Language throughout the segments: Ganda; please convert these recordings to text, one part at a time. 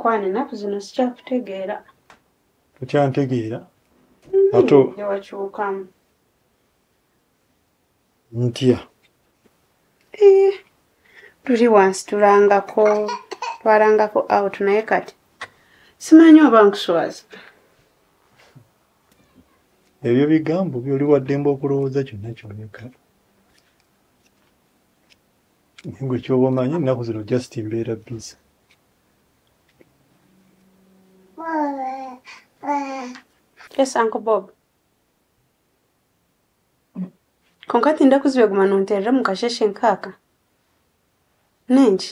mukwano ennaku zino sikyakutegeera okyantegeera mm-hmm. ate ewakyukamu ntya eh, tuli wansi tulangako twalangako out naye kati simanyi oba nkuswaza ebyo bigambo byoli waddembe okulowooza kyonna kyoleka nengwe kyoba omanyi ennaku zino just mbeera biza yes uncle bob konkati ndakuzibe guma nonterera mukasheshe nkaka nengi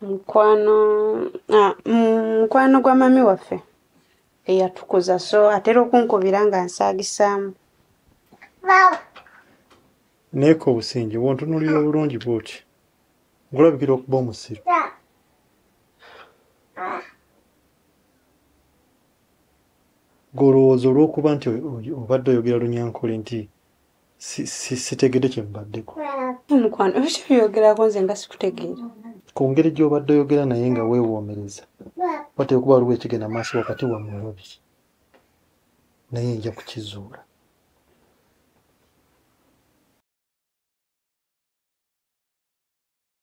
mukwano ah, mm, mukwano gwa mami waffe eyatukuza so atera okunkubira nga nsaagisaamu neeka obusinge bwontunulira obulungi bwoti ngulabikira okuba omusiru golowooza olwokuba nti obadde oyogera lunyankole nti sitegedde kye mubaddeko mukwano ebyo kyebyogerako nze nga sikutegeera ku ngeri gy'obadde oyogera naye nga weewoomereza wateeka okuba waliwo ekigenda maaso wakati wammwe babiri naye nja kukizuula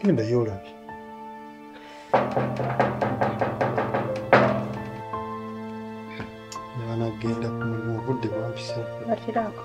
genda yolabye nabanagenda ku mulimu obudde bwampisa bakirako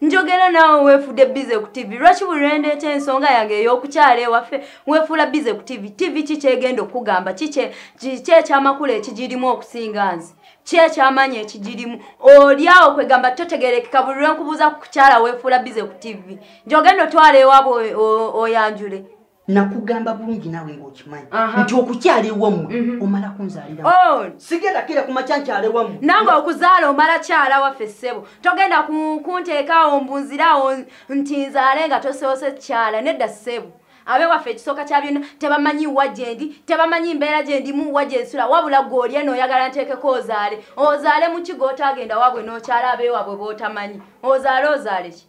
njogera naawe weefude bize ku tivi lwaki buli lwendeeta ensonga yange ey'okukyala ewaffe weefuula bize ku tivi tivi ki kyegenda okukugamba kyekyamakulu ekigirimu okusinga nze kyekyamanyi ekigirimu olyawo kwegamba totegerekeka buli lwenkubuuza ku kukyala weefuula bize ku tivi njogenda otwala ewabwe oyanjule nakugamba bulungi nawe ngaokimanyi nti okukyala ewamu mhm. omala kunzalira oh. sigenda kira kumakya nkyala ewamu nange okuzaala omala kyala waffe ssebo togenda kunteekaawo mbunziraawo nti nzaale nga toseose kyala nedda ssebo abewaffe ekisooka kya byonna tebamanyi wa gyendi tebamanyi mbeera gyendimu wa gyensula wabula gweolye nooyagala nteekeko ozaale ozaale muki gwotaagenda wabwe nookyala abewabwe bootamanyi ozaale ozaaleki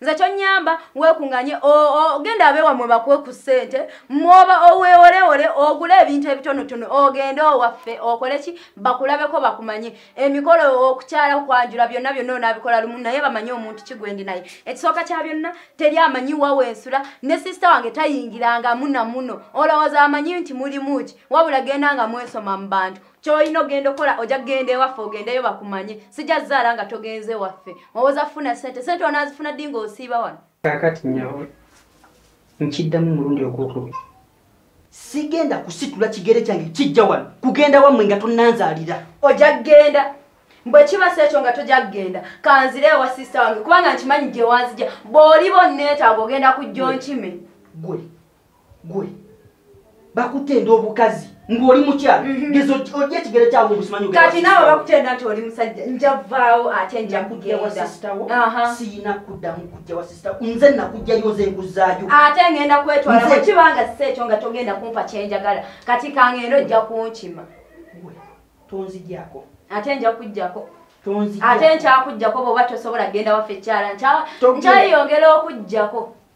nze kyonyamba wekunganye ogenda abewa mwe bakuwe ku ssente mwoba owewolewole ogule ebintu ebitonotono ogende owaffe okole ki bakulabeko bakumanye emikolo okukyala okwanjula byonna byonna onabikola lumu naye bamanye omuntu kigwendi naye ekisooka kya byonna teri amanyi wawe ensula ne sisita wange tayingiranga munamuno olowooza amanyi nti mulimu ki wabula genda nga mwesoma mu bantu kyolina ogenda okola oja kugenda ewaffe ogendeyo bakumanye sijja zaala nga togenze ewaffe owoza funa sente sente onazifuna ddi nga osiiba wano kakati nyawe nkiddamu omulundi ogwokubiri sigenda kusitula kigere kyange kijja wano kugenda wamwe nga tonanzalira oja kugenda bwekiba si ekyo nga toja kugenda kanzire ewa sisita wange kubanga nkimanyi gyewanzija bwoliba onneetaaga ogenda kujja onkime gwe gwe bakutenda obukazi ng'oli mukyala mhm. geza ojja ekigere kyawe obusimanyi kati naawe bakutenda nti oli musajja njavaawo ate nja kugendasitawo siyina kuddamu kujja wa sisita nze nakujjayo nze nkuzaayo ate ngenda kwetwala wekibanga si ekyo nga togenda kumpa kyenjagala kati kangenda ojja kunkima tonzigyako ate nja kujjako ate nkyakujjako bwoba tosobola kugenda waffe ekyala nkyayongera okujjako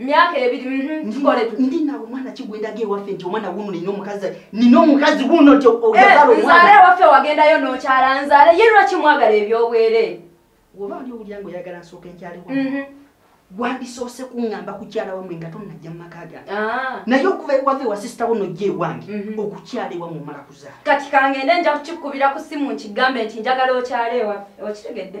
myaka ebiri mhm, tukole tu ndi nawe mwana kigwenda ge wafe nti omwana wuno nino omukazi nino omukazi wuno nti ogazala eh, omwana nzale wafe wagenda yo nokyala nzale ye lwaki mwagala ebyobwere woba oli owulira nga oyagala nsooka enkyali wa mhm. gwandisoose kuŋŋamba kukyala wamwe nga tonnajja mu maka gange ah. naye okuva ewave wa sisita wo nojja ewange mhm. okukyala ewa mumala kuzaala kati kangende nja kukikubira ku simu nkigambe nti njagala okyala ewa okitegedde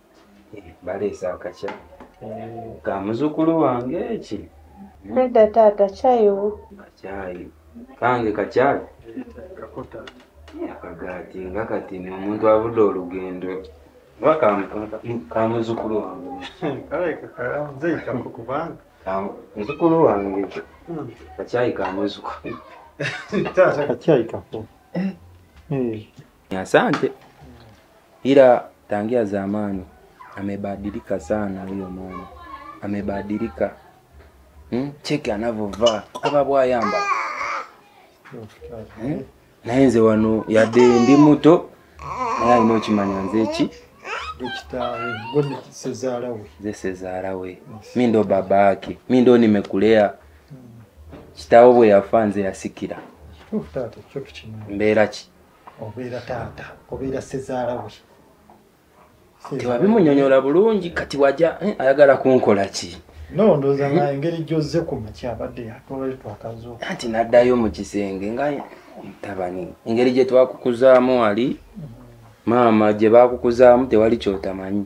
baleese akakya ka muzukulu wange eki nedda taata kyayo kakyayi kange kakyayi akagaati nga kati ni omuntu avudde olugendo oba ka muzukulu wange muzukulu wange hmm. kakyayi ka muzukulu kakyayi kako eh. eh. Asante. Ila tangia zamani amebadilika sana huyo mama. Amebadilika. Hmm? Cheki anavyovaa. Aba bwayamba. Hmm? Naye nze wano yadde ndi muto naye alina okimanya nze ki Dokitari, gwe sezaala we. nze sezaala we mi ndo baba yake mi ndo nimekulea kitaawo bwe yafa nze yasikira Oh, taata, kyo tukimanya. mbeera ki obeera taata obeera sezaala we tewabimunyonyola bulungi kati waja eh, ayagala kunkola ki no ndoza nga engeri gyozze ku maki abadde yatwale twakazo anti naddayo mu kisenge nga mutabani engeri gye twakukuzaamu wali mm-hmm. maama gye bakukuzaamu tewali kyotamanyi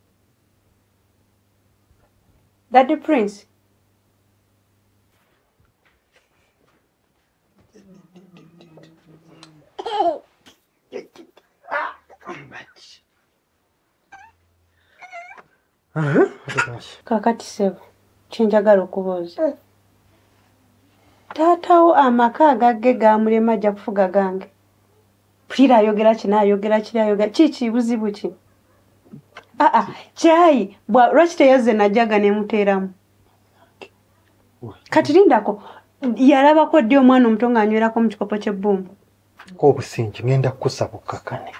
Daddy Prince. kakati sebo kyenjagala okubuuza taatawo amaka agagge gamulema ajja kufuga gange pulira ayogera kino ayogera kiri ayogera kiki buzibu ki aa ah, ah, kyayi lwaki teyazze najaga nemuteeramu kati lindako yalabako ddi omwana omuto ng'anywerako mu kikopo ky'ebbumba obusingi ngenda kukusa bukkakane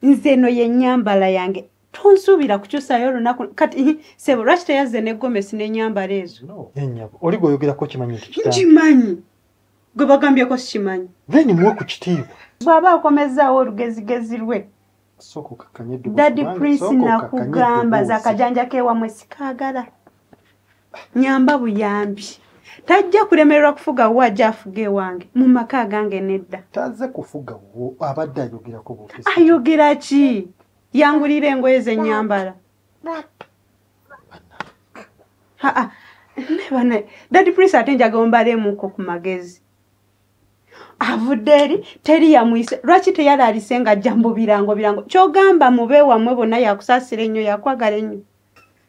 nze eno yenyambala yange tonsuubira kukyusayo olunaku kati sebo lwaki teyazze ne gomesi n'enyambala ezo oli gweoyogerako kimanyi nkimanyi gwe bagambyeko sikimanyi then muwe ku kitiibwa bw'aba akomezzaawo olugezigezi lwe dadi prince nakugamba zakajanja kewamwe sikagala nyamba buyambi tajja kulemererwa kufuga wo ajja afuga ewange mu maka agange nedda taze kufuga wo abadde ayogerako ayogera ki yangulira engoye zenyambala nebana dadi prince ate njaga ombalemuko ku magezi avudde eri teri yamuyise lwaki teyalaalise nga ajja mu birango birango kyogamba mube wamwe bonna yakusaasira ennyo yakwagala ennyo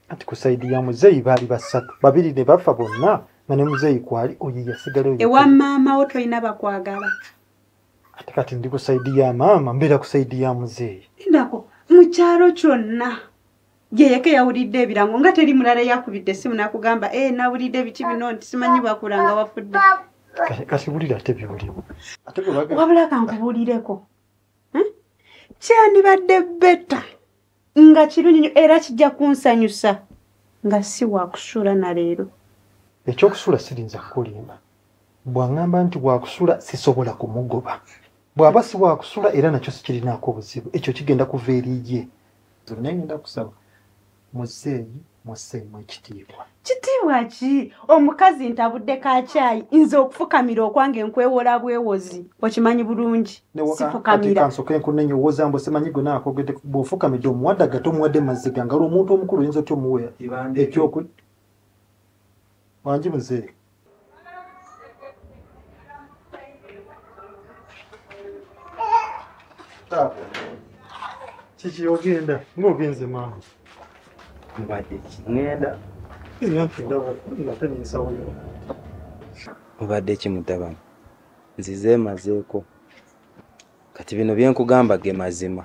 ati ku saidi ya muzeeyi baali basatu babiri ne bafa bonna nga ne muzeeyi kwali oyo yasigala ewa maama wo tolina bakwagala ate kati ndi ku saidi ya maama mbeera ku saidi ya muzeeyi ndako mu kyalo kyonna yeyeke yawulidde ebirango nga teri mulala yakubidde esimu nakugamba e eh, nawulidde biki bino nti simanyi bakulanga wafudde kasiwulire ate byoliwo wabula kankubuulireko hm? kyandibadde beta nga kirungi nyo era kijja kunsanyusa nga si wakusula na leero ekyokusula sirinza kukulimba bwangamba nti wakusula sisobola kumugoba bwaba si wakusula era nakyo sikirinaako obuzibu ekyo kigenda kuva eriye naye ngenda kusaba muzeeyi museemu ekitiibwa kitiibwa ki omukazi ntabudde ka kyayi nze okufukamira okwange nkwewola bwewozi okimanyi bulungi sifukamirakansooke nkunenye owoza mbu simanyi gwe naakogede bwofukamidde omuwadde agate omuwadde maziga nga lwomuntu omukulu oyinza otya omuwa ekyoku wangi muzeeyi kiki ogenda ngaogenze maama mbadde ngenda eyanfiddawaatanyinsawoyo mubadde ki mutabani nzize emazeeko kati bino byenkugamba ge mazima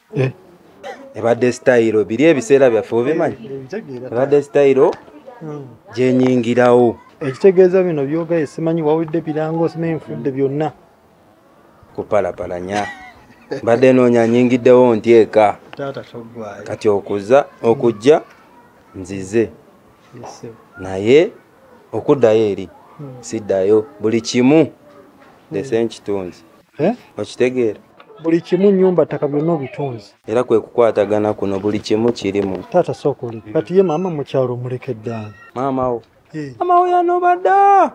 eh. ebadde sitayiro biri ebiseera byaffe obimanyi ebadde sitayiro hmm. gyenyingirawo ekitegeeza bino byogaye simanyi wawulidde birango simanyi nfudde byonna kupalapalanya mbadde noonya nyingiddewo nti eka kati okuza okujja nzize naye okuddayo eri hmm. siddayo buli kimu ndese nkitunzi eh? okitegeera buli kimu nyumba ttaka byonna obitunzi era kwe kukwatagana kuno buli kimu kirimu taata sooka oleke kati ye maama mukyalo omuleke ddaani maamawo eh. maamawo yanobadda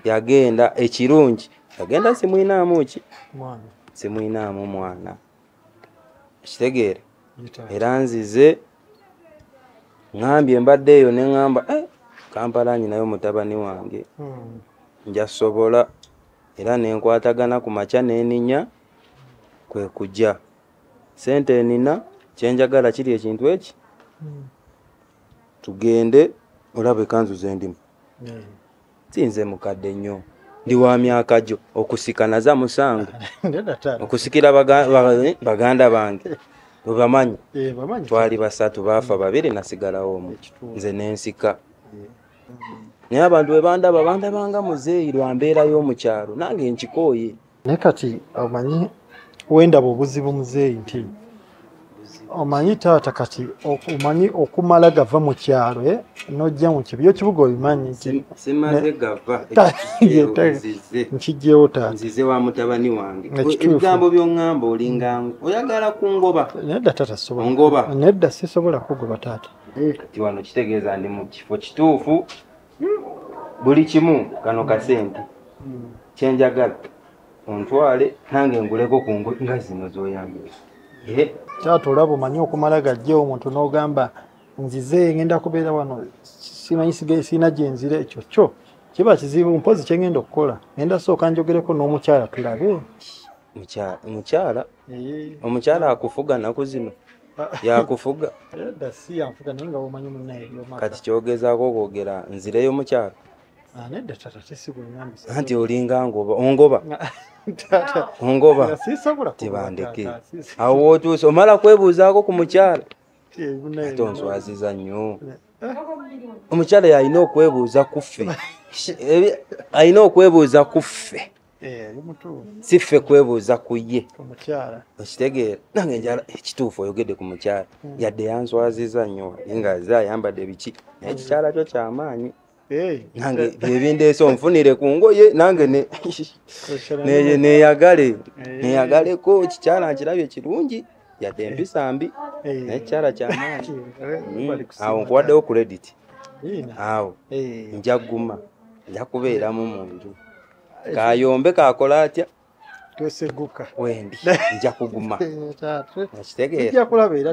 yagenda ekirungi yagenda simuyinaamu ki simuyinaamu mwana kitegeera era nzize ŋambye mbadde eyo ne ŋamba eh, kampala nyinayo mutabani wange hmm. njasobola era ne nkwatagana ku makya n'eninya kwe kujja sente enina kye njagala kiri ekintu eki tugende olaba ekanzu ze ndimu sinze mukadde nnyo ndi wa myaka gyo okusika naza musango okusikira eh, baganda bange webamanyi eh, twali basatu baafa babiri nasigalawo omu nze nensika naye abantu bwe bandaba bandabanga muzeeyi lwa mbeera y'omu kyalo nange nkikooye naye kati omanyi wendaba obuzibu muzeeyi nti omanyi taata kati omanyi okumala gava mu kyalo eh, nojja mu kibi yokibuga obimanyi nkijjewo taataebigambo byoŋamba olinga oyagala kungoba nedda taata sobola nedda sisobola kugoba taata eh. kati wano kitegeeza ndi mu kifo kituufu hmm. buli kimu kano kasente hmm. kyenjagala ontwale nange nguleko ku ngo nga zino zoyambire eh. taata olaba omanyi okumala gajja omuntu n'ogamba nzize ngenda kubeera wano simanyi sirina gyenzira ekyo kyo kiba kizibu mpozi kyengenda okukola ngenda sooka njogereko n'omukyala tulabe mukyala omukyala akufuga naku zino yakufuga kati kyogezaako okwogera nzireyo mukyalo ah, anti olinga ngoba ongoba ongoba tibandeke awo wotuuse omala kwebuuzaako ku mukyalo ate onswaziza nnyo omukyala yalina okwebuuza kuffe alina okwebuuza kuffe eh, si ffe kwebuuza ku ye okitegeera nange njala ekituufu oyogedde ku mukyala hmm. yadde yanswaziza nnyo nga ze ayambadde ebiki naye ekikyala kyo kyamaanyi eh. nange byebindeesa onfunire ku ngoye nange neyagale eh. neyagaleko ekikyala nkirabye kirungi yadde empisa mbi naye ekikyala kyamaanyi hmm. awo nkuwaddewo credit awo njaguma njakubeeramu mu nju kayombe kakola atya tweseguka wendi nja kuguma nakitegeera kulaba era